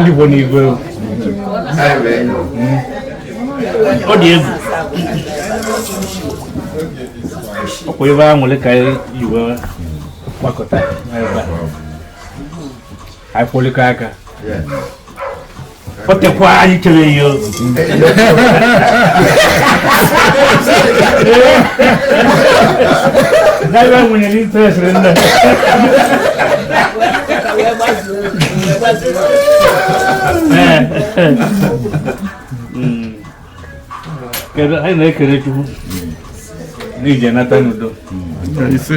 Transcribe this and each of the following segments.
ndị bụ n'igwe ọ dị egwu ọkwa ebe a nwere ka iwe gbakọta ebe a anyị kụlịkọ aka o tekwa anyị chere ya ozu Daiwa nwunye n'interest nne kedu anyị na-ekele chukwu n'ije nata n'udo ise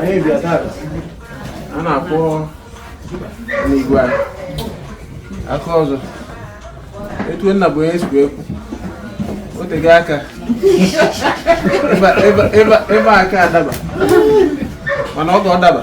anyị bịa tata a na-akụ n'igwe aka ọzọ etu nna bụ onye sikwa ekwu o tego aka ebe aka adaba mana oge ọ daba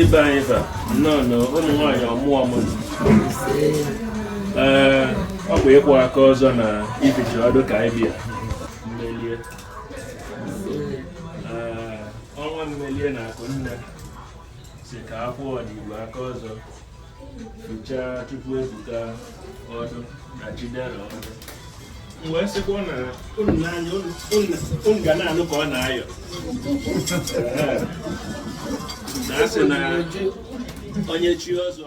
ibe anyị fa nnọọ na ụmụ nwaanyị ọmụọ ọmụmụ ee ọ bụ ịkụ aka ọzọ na be Ichie Ọdụ ka anyị bịa mmelie ee ọnwa mmelie na akụ nne si ka akwụ ọdịgbo aka ọzọ fụchaa Chukwuebuka Ọdụ na Chidera Ọdụ m wee sịkwa na unu na-anya unu ga na-anụ ka ọ na-ayọ na a sị na onye chi ọzọ